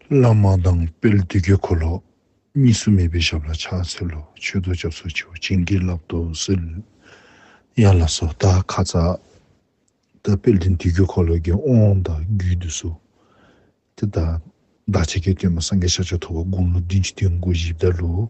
བླ་མ་དང་དཔལ་བདུད་ཀྱི་འཁོར་ལོ། གཉིས་སུ་མེད་པའི་ཞབས་ལ་ཕྱག་འཚལ་ལོ། མཆོད་བསྟོད་སྐྱབས་སོགས་བྱའོ། བྱིན་གྱིས་བརླབ་ཏུ་གསོལ། ཡན་ལག་སོ་དག་ཁ་ཚ། ད་དཔལ་ལྡན་བདུད་ཀྱི་འཁོར་ལོ་བརྒྱད་ཨོང་དང་རྒྱུད་དུ་གསོལ། དེ་ལྟར་བདག་ཆེ་གེ་སྟོན་པ་སངས་རྒྱས་ཕྱག་བྱ་ཐོ་བ་དགུང་ལོ་བདུན་ཅུ་བདུན་དགུ་བཞི་བརྡ་ལུགས།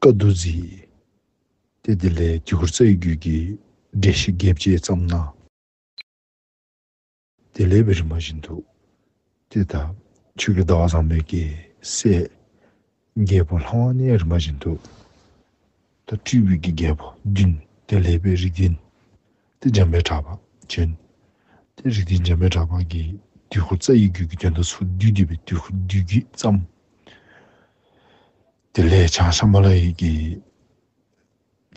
བཀའ་བསྡུ་མཛད། དེ་དེ་ལས་དཀྱིལ་འཁོར་རྩ་བའི་རྒྱུད་ཀྱི་འགྲེལ་བཤད་བརྒྱད་བཅས་བརྩམས་ན། དེ་ལས་བི་རི་མ་བཞི་འདུག། དེ་དག་ཆོས་ཀྱི་ཟླ་བ་བཟང་མོའི་སྐད་གསལ། རྒྱལ་པོ་ལྷ་དབང་གནས་རི་མ་བཞི་འདུག། ད་ཏྲི་བི་ཀི་རྒྱལ་པོ་བདུན་དེ་ལས་བི་རི་བདུན། ཏེ་འཇམ་པའི་གྲགས་པ་ཅན། ཏེ་རིགས་ཀྱི་འཇམ་པའི་གྲགས་པ་གྱི་དུས་འཁོར་རྩ་ཡི་རྒྱུད་ཀྱི་དོན་དུ་ཚུར་བསྡུས་བསྡུས་པའི་དུས་འཁོར་བསྡུས་རྒྱུད་བརྩམ། དེ་ལས་བྱང་ཤམྦྷ་ལ་ཡིག་གི་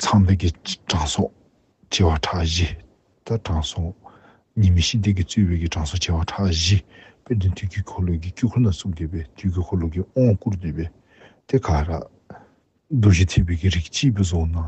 ཚངས་མདོས་ཀྱི་གྲངས་སོགས་བྱེ་བ་ཕྲག་བཞི། ལྟར་གྲངས་སོགས་གཉིས་མི་ཤིགས་སྡེ་གི་རྩོད་དཔེ་ཀྱི་གྲངས་སོགས་བྱེ་བ་ཕྲག་བཞི་པའི་དོན་དུས་ཀྱི་འཁོར་ལོ་ཀྱི་དཀྱུས་འཁོར་ན་ཚུར་བསྡུས་པའི་དུས་ཀྱི་འཁོར་ལོ་ཀྱི་དབང་བསྐུར་བསྡུས་པའི་ཏེ་ཀ་ར། རྡོ་རྗེ་ཐེག་པའི་ཀྱི་རིགས་གཅིག་པུ་བཟུང་ན།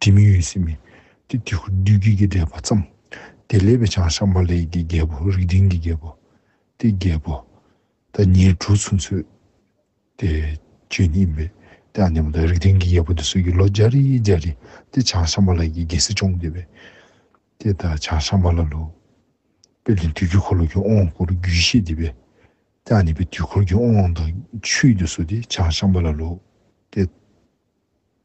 དྲི་མེད་འོད་ཟེར་མེད་དེ་དེ་ཁུ་བདུད་རྒྱུད་ཀྱི་བསྒྲལ་བར་བརྩམ། དེ་ལས་པའི་བྱང་ཤར་མ་ལས་ཀྱི་རྒྱལ་པོ་རིགས་འབྲིང་གི་རྒྱལ་པོ། དེ་རྒྱལ་པོ། ད་ཉེར་དྲུག་ཚུན་ཚོད་དེ། བཅུ་གཉིས་པའི་དེ་ཨ་ནེ་མོ་དང་རིགས་འབྲིང་གི་རྒྱལ་པོ་དེ་སྲོད་ཀྱི་ལོ་བརྒྱ་རེ་ཡི་བརྒྱ་རེ་དེ་བྱང་ཤར་མ་ལས་ཀྱི་རྒྱལ་སྲིད་སྐྱོང་དགོས་པས། དེ་ད་བྱང་ཤར་མ་ལ་ལོ། དཔེར་ན་དུས་ཀྱི་འཁོར་ལོ་གྱི་དབང་བསྐུར་རྒྱུད་བཤད་དེ་བས། དེ་ཨ་ནེ་པའི་དུས་འཁོར་གྱི་དབང་དང་ཆུའི་དུས་སོ་དེ་བྱང་ཤར་མ་ལ་ལོ། དེ།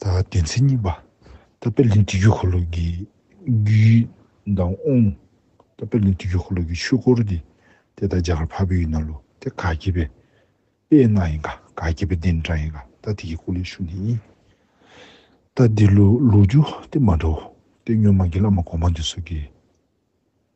སྡེ་ཚན་གཉིས་པ། ད་པེར་ལིན་སྒྲིག་འགྱུར་འཁོར་ལོ་གྱི་རྒྱུད་མདངས་དབུང། ད་པེར་ལིན་སྒྲིག་འགྱུར་འཁོར་ལོ་གྱི་ཆོས་སྐོར་འདི་དེ་ལྟར་རྒྱ་གར་ཕ་བོད་ཡུལ་ན་ལོ་དེ་དགའ་སྐྱེད་པའི་དཔེ་གནའ་ཡིན་ག་དགའ་སྐྱེད་པའི་གདན་དྲངས་ཡིན་ག་ད་དེ་ཀྱི་སྐུ་ལས་ཤུགས་འདི་ཡིན། ད་འདི་ལོ་ལོ་རྒྱུ་དེ་མ་འདྲ་བོ་དེ་སྨྱོན་མ་དགེ་ལ་མ་གོང་མ་འདི་སོགས་ཀྱི།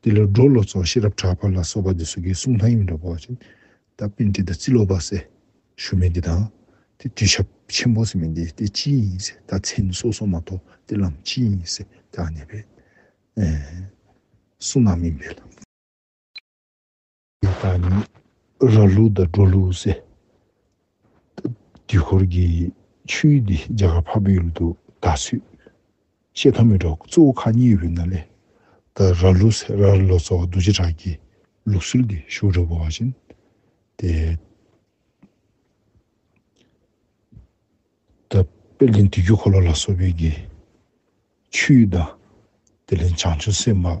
འདི་ལོ་སྒྲོ་ལོ་ཚོགས་ཤེས་རབ་གྲགས་པ་ལ་སོགས་པ་འདི་སོ་གའི་གསུང་ཐང་ཡིན་འདྲ་བོ། ད་པིན་ཏྲི་དང་ཙི་ལོ་པ་སེ་ཞུ་མེ་འདི་དང། དེ་དུས་ཞབས་ཆེན་པོ་སེ་མེ་འདི་དེ་ཅི་ཡིན་ཡིན་སེ་ད་མཚན་སོ་སོ་མ་གཏོགས་དེ་ལམ་ཅི་ཡིན་ཡིན་སེ་དེའང་ནི་བེ་སོ་ན་མིན་བེ་ལ། དེ་དག་ནི་ར་ལུག་དང་འབྲོག་ལུག་ཟེར། དུས་འཁོར་གྱི་ཆུ་ཡི་འདི་རྒྱ་གར་འཕགས་པའི་ཡུལ་དུ་ད་སུས་ཤེས་ཐོག་མེད་འགྲོ་གཙོ་བོ་ཁག་གཉིས་ཡོད་ན་ལས་དང་ར་ལུག་ཟེར་ར་ལོ་ཙོ་བ་རྡོ་རྗེ་བྲག་གི་ལུགས་སྲོལ་གྱི་ཤུགས་རབ་བོ་བ་བཞིན་ཏེ། དཔེར་ལེན་དུས་འཁྱུད་འཁོར་ལོ་ལ་སོགས་པའི་གི་ཆུ་ཡི་དང། དེ་ལས་བྱང་ཆུ་སེར་མ།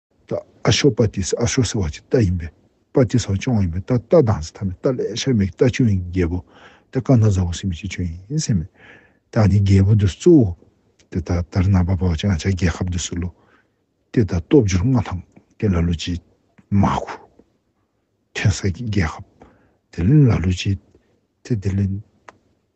རྟ་ཨ་ཤོ་པ་ཏི་སི་ཨ་ཤོ་ཟེར་བ་གཅིག་རྟ་ཡིན་པས་པ་ཏི་སའོ་ཅང་ཡིན་པས་རྟ་རྟ་དང་ཟེར་ཐ་མི་རྟ་ལས་ཤར་མེད་ཀྱི་རྟ་ཆུང་ཡིན་རྒྱལ་པོ་རྟ་རྐང་ཐང་ཟ་བོ་སྲིན་པོ་སྐྱིད་ཆུང་ཡིན་ཟེར་མོད། རྟ་ནི་རྒྱལ་པོ་འདུས་སུ་གཙོ་བོ། དེ་ལྟར་དར་ནག་པ་པའོ་ཅང་བྱ་རྒྱལ་ཁབ་འདུས་སུ་ལོ། དེ་ལྟར་སྟོབས་འབྱོར་མངའ་ཐང་དེ་ལ་ལུ་ཅིས། མ་གུ། ཐོན་ས་ཀྱི་རྒྱལ་ཁབ། དེ་ལས་ལ་ལུ་ཅིས། དེ་དེ་ལས།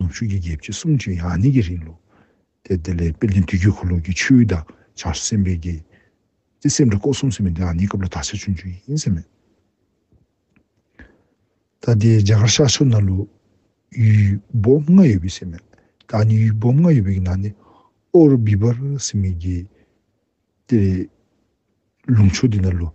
ནུབ་ཕྱོགས་ཀྱི་རྒྱལ་ཕྱི་གསུམ་གྱི་ཡང་སྙིང་གི་རིང་ལུགས་དེ་དེ་ལས་པེ་ལིན་དུས་རྒྱུན་ཁོར་ལོག་གི་ཆོས་དབྱིངས་དང་བྱང་སེམས་པའི་རྒྱལ་སྤྱིའི་སེམས་སྒྲ་ཀོ་གསུམ་ཟེར་བའི་འདི་ཡང་སྙིང་སྐབས་ལ་དག་ཆ་ཆུང་ཆུང་ཞིག་ཡིན་ཟེར་མོད། ད་ལྟའི་རྒྱ་གར་ཤར་ཕྱོགས་ན་ལུགས་ཡུལ་སྦོམ་ལྔ་ཡོད་པའི་ཚེ་མོད། ད་ནི་ཡུལ་སྦོམ་ལྔ་ཡོད་པའི་ནང་ནས་ཨོ་རོ་བི་བར་ཟེར་བའི་རྒྱལ་སྤྱིའི་ལུགས་ཕྱོགས་འདི་ན་ལུགས།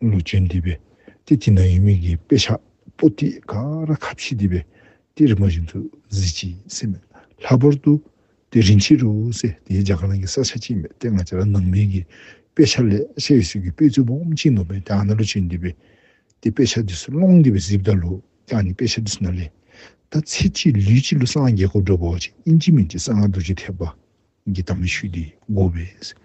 ལུས་ཅན་འདི་པའི་ཏི་ཏི་ན་ཡུལ་མིག་གི་དཔེ་ཆ་པོ་ཏི་ཀ་ར་ཁ་བཞི་འདི་པའི་ཏི་རིན་པོ་བཞིན་དུ་གཟི་བརྗིད་སེམས་མེད་ལྷག་པར་དུ་ཏི་རིན་ཕྱི་རུ་སེ་དེའི་རྒྱ་གར་ནང་གི་ས་ཆ་གཅིག་མེད་དེ་ང་ཅག་ལ་ནང་མིག་གི་དཔེ་ཆ་ལས་ཤ་ཡི་སྲོལ་གྱི་དཔེ་རྫུན་འབུམ་གཅིག་འདོམས་པའི་ཏི་ཨ་ན་ལུས་ཅན་འདི་པའི་ཏི་དཔེ་ཆ་འདི་སུ་སློང་འདི་པའི་གཟི་བདག་ལུ་ཀྱང་ནི་དཔེ་ཆ་འདི་སུ་ན་ལེ་ད་ཚེ་གཅིག་ལུས་གཅིག་ལུས་སངས་རྒྱས་གོ་བགྲོད་པོ་ཅིག་ཨིན་ཇི་མིན་གྱི་གསང་སྔགས་རྡོ་རྗེ་ཐེག་པ་གི་དམ་ཆོས་འདི་བསྒོ་བའི།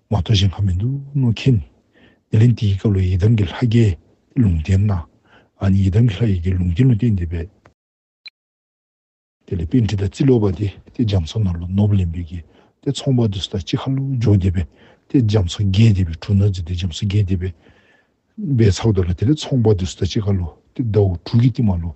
མ་གཏོགས་གཞན་གང་མི་འདུག་ནོ་མཁྱེན། དེ་ལན་དེའི་སྐབས་ལ་ཡི་དམ་གྱི་ལྷ་རྒྱལ་ལུང་བསྟན་ན། ཨ་ནི་ཡི་དམ་གྱི་ལྷ་ཡི་རྒྱལ་ལུང་བསྟན་ལུང་བསྟན་འདི་པས། དེ་ལས་དཔེ་འདྲི་དང་རྩིས་ལོག་པ་དེ་དེ་རྒྱ་མཚོ་ནང་ལ་ནོབ་ལེན་པའི་གེ་དེ་ཚོང་པ་དེ་སུ་དང་ཅི་ཁ་ལོ་འཇོག་འདི་པས་དེ་རྒྱ་མཚོ་རྒྱལ་འདི་པའི་དྲུག་ན་རྫི་དེ་རྒྱ་མཚོ་རྒྱལ་འདི་པས། པའི་ཚག་ཏུ་ལ་དེ་ལས་ཚོང་པ་དེ་སུ་དང་ཅི་ཁ་ལོ་དེ་ཟླ་བོ་དྲུག་གི་སྟིང་མ་ལོ་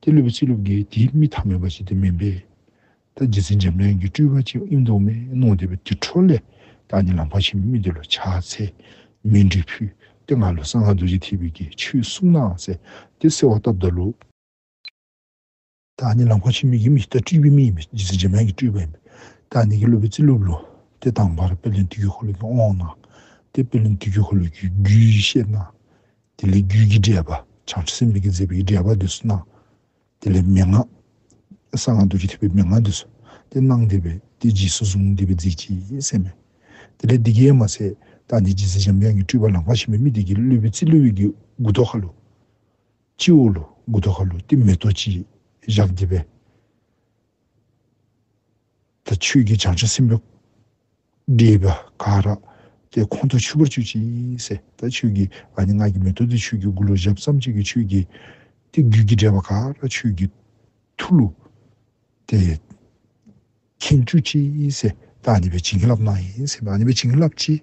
དེ་བསླུས་པའི་ཚིག་ལུགས་འགའི་དེའི་རྨི་ཐ་མལ་པ་ཞིག་དེ་མིན་པས། ད་རྗེ་བཙུན་འཇམ་དབྱངས་ཀྱི་སྤྲུལ་པ་ཆེན་དབྱིངས་རྟོག་མས་གནང་བསྡད་པའི་དུད་འཕྲོ་ལས་བདག་ཉིད་ལ་འཕགས་ཆེན་པོའི་རྨི་ལྟས་ལ་ཕྱག་འཚལ། མིང་འབྲི་ཕུལ། དེ་སྔ་ལོ་གསང་སྔགས་རྡོ་རྗེ་ཐེག་པའི་དགེ་ཆོས་གསུངས་ནའང་གསལ། དེ་གསལ་བ་ལྟ་བདག་ལུགས། བདག་ཉིད་ལ་འཕགས་ཆེན་པོའི་ཡིད་མི་རྟག་སྤྲུལ་པའི་རྨི་ཡིན་པས་རྗེ་བཙུན་འཇམ་དབྱངས་ཀྱི་སྤྲུལ་པ་ཡིན་པས་བདག་ཉིད་ཀྱིས་བསླུས་པའི་ཚིག་ལུགས་ལོ། དེ་དང་པར་དཔལ་ལྡན་དུས་ཀྱི་འཁོར་ལོའི་རྒྱུན་དབང་གནང། དེ་དཔལ་ལྡན་དུས་ཀྱི་འཁོར་ལོའི་རྒྱུན་བཤད་གནང། དེ་ལས་རྒྱུད་ཀྱི་འགྲེལ་པ་བྱང་ཆུབ་སེམས་ཀྱི་མཛད་པའི་འགྲེལ་པ་འདི་སུ་གནང། དེ་ལས་མན་ངག། གསང་སྔགས་རྡོ་རྗེ་ཐེག་པའི་མན་ངག་འདི་སུ་དེ་གནང་བདེ་བས་དེ་རྗེས་སུ་བཟུང་བདེ་བའི་རྫས་ཀྱིས་བསྲེགས་མོད། དེ་ལས་འདི་སྐད་མ་ཟད་བདག་འདི་རྗེས་སུ་འཇམ་དབྱངས་ཀྱི་སྤྲུལ་པ་ལང་ཀ་བྱིན་པའི་མི་དེ་ཀྱིས་བླུད་པའི་རྩི་བླུད་དབྱིག་གི་གུ་དོག་ཧ་ལུ། སྤྱི་བོ་ལུ་གུ་དོག་ཧ་ལུ་སྟེ་མེ་ཏོག་ཅེས་བཞག་བདེ་བས། དང་ཆོས་ཀྱི་སྦྱང་བྱ་སེམས་དཔའ་འདྲེས་པ་འགའ་རེ་དེ་ཁོང་དུ་ཆུད་པར་གྱུར་ཅིག་སེ་ད་ཆོས་ཀྱི་ཨ་ནི་སྔགས་ཀྱི་མེ་ཏོག་དེ་ཆོས་ཀྱི་དགུ་ལོ་བཞི་བརྩམས་གཅིག་གི་ཆོས་ཀྱི་དེ་རྒྱུད་ཀྱི་འདྲེས་པ་འགའ་རེ་ཆོས་ཀྱི་ཐུགས་ལུགས་དེ་མཁྱེན་གྱུར་ཅིག་སེ་ད་ཨ་ནི་པའི་བྱིན་གྱི་རླབས་གནང་ཡིན་སེ་ཨ་ནི་པའི་བྱིན་གྱི་རླབས་ཀྱིས།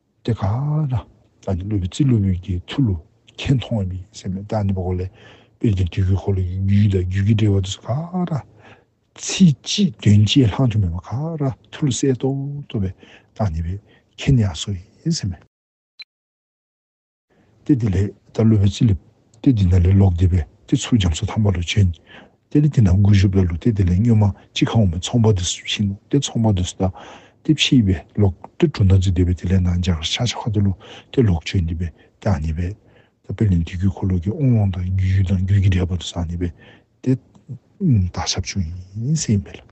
དེ་ག་ན་ད་ནི་ཀླུ་བི་ཙི་ཀླུ་བོད་ཀྱི་མཐུ་ལོ་ཁྱེད་མཐོང་བ་མི་སེམས་མེད་ད་ནི་པོ་ཀོ་ལེ་དཔལ་གྱི་དུས་ཀྱི་འཁོར་ལོ་ཡི་རྒྱུད་དང་རྒྱུད་ཀྱི་འགྲེལ་བ་དུ་ས་ག་ན་ཚིག་གཅིག་དོན་གཅིག་ལྷག་འབྱུང་མེད་པ་ག་ན་མཐུ་ལོ་གསལ་རྟོགས་རྟོགས་པའི་ད་ནི་པོ་ཁྱེད་ནི་ཡང་སོ་ཡིན་སེམས། ཏེ་དེ་ལས་ད་གློད་པའི་ཚིག་ལས། ཏེ་དེ་ན་ལས་ལོག་སྡེ་པས་ཏེ་ཚུར་འབྱམས་སུ་འཐམས་པ་ལུས་ཅན། ཏེ་ལས་དེ་ན་མགུལ་གཞུག་པའི་ལུགས་ཏེ་དེ་ལས་སྨྱོན་མ་གཅིག་གང་བ་མི་ཚོང་པ་དུ་སུ་བྱིན་ནོ་ཏེ་ཚོང་པ་དུ་སུ་བལྟ། ཏེ་ཕྱིས་པའི་ལོག་ཏེ་གྲུ་མདངས་ཀྱི་སྡེ་པས་དེ་ལས་ན་འཇག་ཤ་ཆ་ཁ་དུ་ལུ་ཏེ་ལོག་ཆོས་འདི་པས་ཏེ་ཨ་ནི་བས། ད་པེ་ལེ་འདི་གུའི་འཁོར་ལོ་གི་ཨོང་ལོང་དང་རྒྱུ་ཡུལ་དང་རྒྱུད་ཀྱི་འབྲེལ་པ་དུ་སུ་ཨ་ནི་བས། ཏེ། བདག་ཞབས་ཆུང་ཡིན་སེམས་མེད་ལ།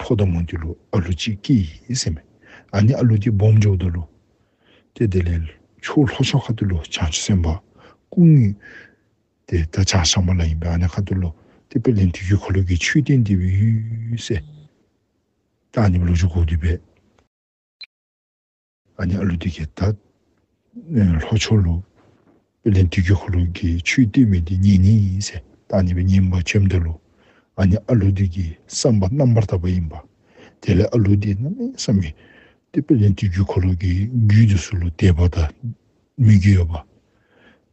ཕོ་དང་མོ་འདི་ལོ་ཨ་ལོ་གཅིག་སྐྱེས་ཡིན་ཟེར་མོད། ཨ་ནི་ཨ་ལོ་གྱི་སྦོམ་ཕྱོགས་འདི་ལོ། དེ་དེ་ལས་ཕྱོགས་ལྷོ་ཕྱོགས་ཁ་ཏུ་ལོ་བྱང་ཆུ་སེམས་དཔའ་སྐུ་ངོས། དེ་ད་ཆ་ཤང་པ་ལ་ཡིན་པའི་ཨ་ནི་ཁ་ཏུ་ལོ་སྟེ་པེ་ལེན་དུས་ཀྱི་གྷོ་ལོད་ཀྱི་ཆོས་སྡེ་འདི་བོད་ཡུལ་སེ་ཏག་ནི་ལོ་བཅུ་གོ་བདུན་པའི། ཨ་ཉག་ཀླུ་སྡུད་ཀྱི་ད། ལྷོ་ཕྱོགས་ལུགས། པེ་ལིན་སྡུད་ཀྱི་ཧོ་ལུགས་ཀྱི་ཆུའི་སྟོད་མི་འདི་གཉིས་ནི་ཡིན་ཟེར་ད་ནི་པེ་ཉིན་པ་བཅོམ་ལྡན་ལུགས། ཨ་ཉག་ཨ་ཀླུ་སྡུད་ཀྱི་བསམ་པ་རྣམ་པར་དག་པ་ཡིན་པ། དེ་ལས་ཨ་ཀླུ་སྡུད་ན་ནི་བསམ་མི། ཏེ་པེ་ལིན་སྡུད་ཀྱི་ཁོ་ལུགས་ཀྱི་རྒྱུད་དུ་སུ་ལུགས་འདས་པ་དང། མི་རྒྱུད་ཡོད་པ།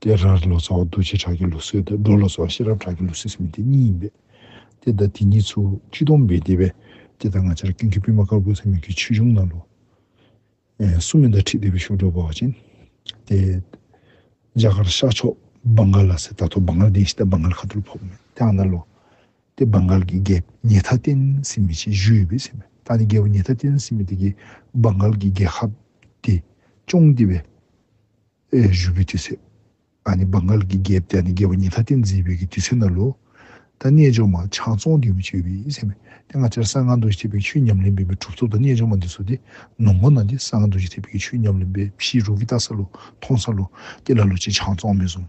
དེ་ར་ལོ་ཙཱ་བ་རྡོ་རྗེ་བྲག་གི་ལུགས་སྲོལ་དང་སྒྲོ་ལོ་ཙཱ་བ་ཤེས་རབ་བྲག་གི་ལུགས་སྲོལ་ཟེར་མི་དེ་གཉིས་ཡིན་པས། དེ་དང་དེ་གཉིས་ཚུལ་ཁྲིམས་སྟོང་པའི་སྡེ་བས་དེ་དང་ང་ཅར་ཀུན་གྱི་པུས་མ་དཀར་པོ་ཚེ་སྨོན་གྱི་ཆོས་འབྱུང་ན་ལོ། སུ་མི་འདའ་ཁྲི་ལྡེ་བའི་ཤུགས་སྒྲོག་པ་བ་ཅན། དེ། རྒྱ་གར་ཤར་ཕྱོགས་སྦང་གྷལ་ལ་སེ་ད་ཐོ་སྦང་གྷལ་ལྡན་ཞིག་དང་སྦང་གྷལ་ཁ་ཐུར་ཕོབ་མེད་དེའང་ན་ལོ། དེ་སྦང་གྷལ་གྱི་རྒྱལ་བོ་ཉེ་ཐ་བསྟན་སྲིད་མི་ཆེ་བཞུགས་ཡོད་པས་སེམས་མེད་ད་ནི་རྒྱལ་བོ་ཉེ་ཐ་བསྟན་སྲིད་མི་དེ་གིས་སྦང་གྷལ་གྱི་རྒྱལ་ཁབ་དེ་སྐྱོང་བདེ་བས། ཨེ་ཞུ་གི་དུས་ཚོད་ཨ་ནི་བང་ག་ལ་གི་རྒྱལ་བསྟན་ནི་རྒྱལ་བ་ཉི་ད་བསྟན་འཛིན་བོད་ཀྱི་དུས་ཚོད་ན་ལོ། ད་རྣལ་འབྱོར་མ་ཆང་བཙོང་ལྡེའུ་མི་ཆོད་བི་སེམས་མེད་དེ་སྔ་ཆར་གསང་སྔགས་འདུ་བྱེད་ཐེག་པའི་ཆོས་ཉམས་ལེན་འབེན་པའི་གྲུབ་ཚོགས་དང་རྣལ་འབྱོར་མ་འདི་ཚོ་དེ་ནུབ་མོ་ན་དེ་གསང་སྔགས་འདུ་བྱེད་ཐེག་པའི་ཆོས་ཉམས་ལེན་འབེན་ཕྱིའི་རུ་གི་ལྟ་ས་ལོ་མཐོང་ས་ལོ་དེ་ལ་ལོ་ཆེ་ཆང་བཙོང་མི་བཟུང།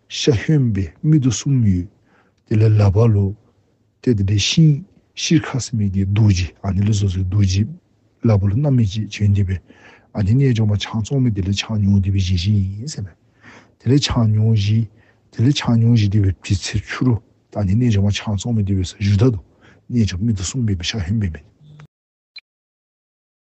ཤ་གཡོན་པའི་མིག་ཏུ་གསུམ་ཡོད། དེ་ལས་ལ་བ་ལོ། དེ་དེ་འདྲའི་ཤིང། ཤིར་ཁ་སི་མིག་གི་རྡོ་རྗེ་ཨ་ནི་ལི་སོ་སོའི་རྡོ་རྗེ། ལ་བ་ལོ་རྣམ་མེད་ཅེས་བྱོན་འདི་བས། ཨ་ནི་རྣལ་འབྱོར་མ་ཆང་བཙོང་མི་དེ་ལས་ཆང་ཉུང་འདི་བས་བཞེས་བཞིན་ཡིན་ཟེར་ན། དེ་ལས་ཆང་ཉུང་བཞི། དེ་ལས་ཆང་ཉུང་བཞི་དེ་བས་བྲི་ཚེ་འཆུ་རོ། ད་ནི་རྣལ་འབྱོར་མ་ཆང་བཙོང་མི་དེ་བས་ས་གཞུ་ད་དོ། རྣལ་འབྱོར་མིག་ཏུ་གསུམ་ཡོད་པའི་ཤ་གཡོན་པའི་མིག།